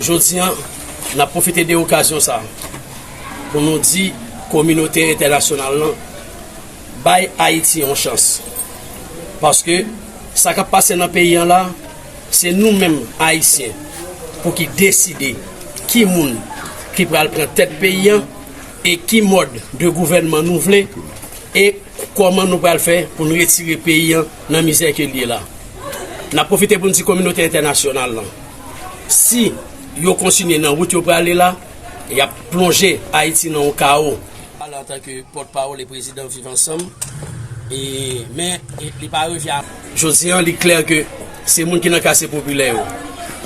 Jodi an, n ap pwofite de okazyon sa pou nou di kominote entènasyonal lan bay Ayiti yon chans. Paske sa k ap pase nan peyi an la, se nou menm Ayisyen pou ki deside ki moun ki pral pran tèt peyi an e ki mòd de gouvènman nou vle e Kòman nou pral fè pou n retire peyi an nan mizè ke l ye la? N ap pwofite pou n di kominote entènasyonal lan, si yo kontinye nan wout yo prale la, y ap plonje Ayiti nan yon kawo. Pale antan ke pòt pawòl e prezidan Viv Ansanm, e men li pa revi a. Jodi an, li klè ke se moun ki nan kase popilè yo,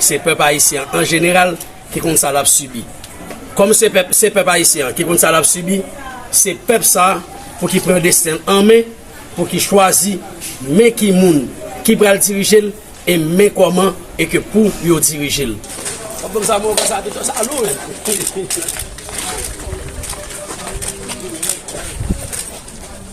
se pèp ayisyen an jeneral ki konn sa lap sibi kòm se pèp se pèp ayisyen an ki konn sa lap sibi se pèp sa pou ki pran desten l an men pou ki chwazi men ki moun ki pral dirije l e men kòman e ke pou yo dirije l.